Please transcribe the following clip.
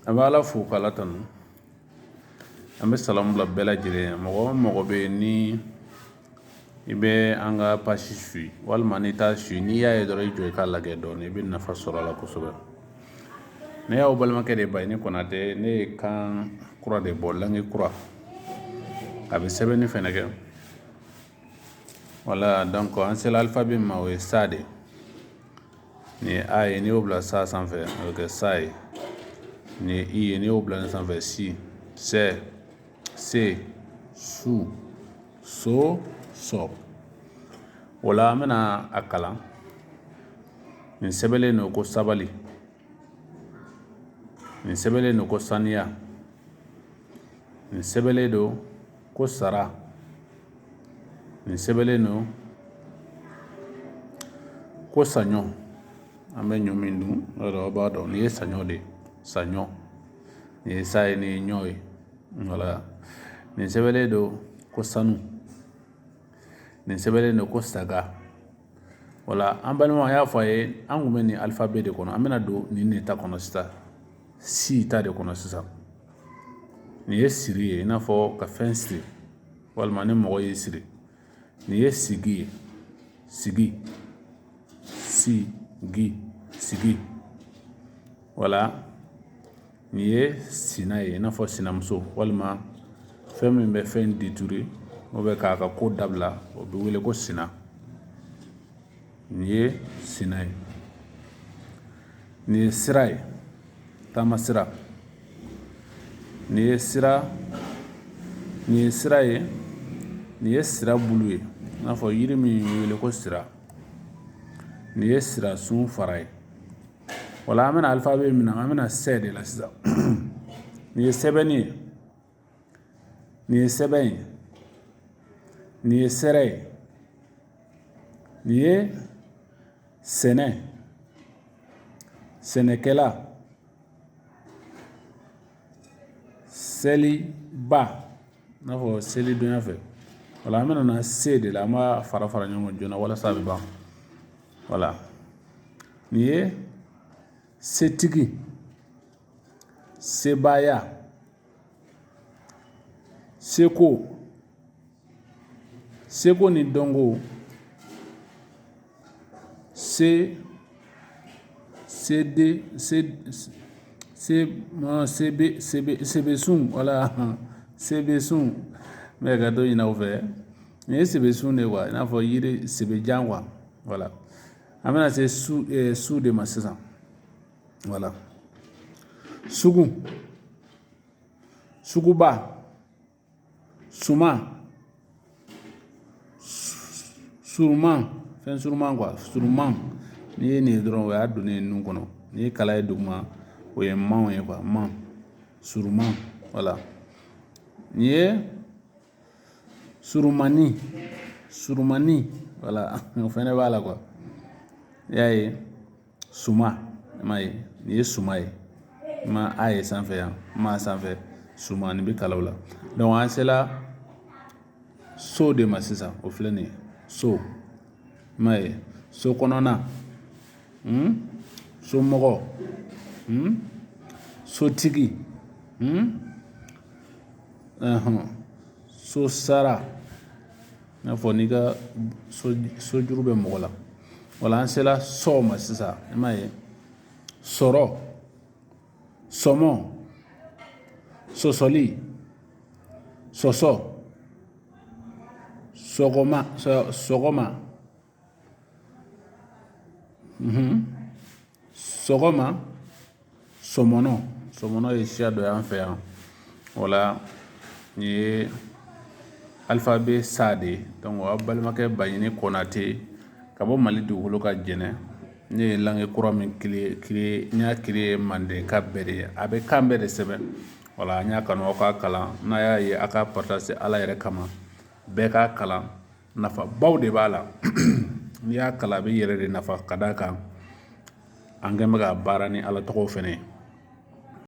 An bɛ ala fo k' ala tanu an bɛ salamu bila bɛɛ lajɛlen ye mɔgɔ o mɔgɔ bɛ yen ni i bɛ an ka pasi su walima n taa su n'i y'a ye dɔrɔn i jɔ i k'a lajɛ dɔɔnin i bɛ nafa sɔrɔ a la kosɛbɛ ne y'aw balimakɛ de ba ɲini Konatɛ ne ye kan kura de bɔ la kura a bɛ sɛbɛn ne fana kɛ wala dan an sera alifabɛ ma o ye sa de Nin ye a ye n'i y'o bila sa sanfɛ a bɛ kɛ sa ye nin ye i ye n'i y'o bila nin sanfɛ si sɛ se su so sɔ wala an bɛna a kalan nin sɛbɛnlen don ko sabali nin sɛbɛnlen don ko saniya nin sɛbɛnlen don ko sara nin sɛbɛnlen don ko saɲɔ an bɛ ɲɔ min dun aw b'a dɔn nin ye saɲɔ de ye saɲɔ nin ye sa ye nin ye ɲɔ ye wala nin sɛbɛnlen don ko sanu nin sɛbɛnlen don ko saga wala an balimaw an y'a fɔ aw ye an tun bɛ nin alifabɛ de kɔnɔ an bɛna don nin de ta kɔnɔ sisan si ta de kɔnɔ sisan nin ye siri ye i n'a fɔ ka fɛn siri walima ni mɔgɔ y'i siri nin ye sigi ye sigi sigi sigi wala Nin ye sina ye i n'a fɔ sinamuso walima fɛn min bɛ fɛn détruire ni o bɛ k'a ka ko dabila o bɛ wele ko sina nin ye sin ye nin ye sira ye taama sira nin ye sira nin ye sira ye nin ye sira bulu ye i n'a fɔ yiri min wele ko sira nin ye sira sun fara ye Wala an bɛna alifabɛ min na an bɛna sɛ de la sisan nin ye sɛbɛnni ye nin ye sɛbɛn ye nin ye sɛrɛ ye nin ye sɛnɛ ye sɛnɛkɛla sɛliba n'a fɔ sɛlidonya fɛ wala an bɛna se de la an b'a fara fara ɲɔgɔn joona walasa a bɛ ban wala nin ye setigi sebaaya seko seko ni dɔnko se sede se se sebe sebe sebesun wala sebesun n bɛ hakɛto ɲini aw fɛ Nin ye sebe sun de ye kuwa i n'a fɔ yiri sebe jan kuwa wala an bɛna se su eh, su de ma sisan wala sugu suguba suma suruman fɛn suruman kuwa suruman n'i ye nin ye dɔrɔn o y'a donnen ye nun kɔnɔ n'i ye kala ye duguma o ye manw ye kuwa man suruman wala nin ye Surumanin surumanin wala o fana b'a la kuwa i y'a ye suman i m'a ye nin ye suman ye i ma a ye sanfɛ yan ma sanfɛ suman nin bɛ kala o la an sela so de ma sisan o filɛ nin ye so i m'a ye so kɔnɔna somɔgɔ sotigi so sara i n'a fɔ n'i ka sojuru bɛ mɔgɔ la wala an sela sɔ ma sisan i m'a ye sɔrɔ sɔmɔ sɔsɔli sɔsɔ sɔgɔma sɔgɔma sɔgɔma sɔmɔnɔ sɔmɔnɔ ye siya dɔ y'an fɛ yan wala nin ye alifabe sa de ye a' balimakɛ Baɲini Konate ka bɔ Mali dugukolo kan Jɛnɛ ne ye langue kura min n y'a creer mandenka bɛɛ de ye a bɛ kan bɛɛ de sɛbɛn wala n y'a kanu aw k'a kalan n'a y'a ye a' k'a partager Ala yɛrɛ kama bɛɛ k'a kalan nafabaw de b'a la n'i y'a kalan a b'i yɛrɛ de nafa ka d'a kan an kɛn bɛ ka baara ni ala tɔgɔ fɛnɛ ye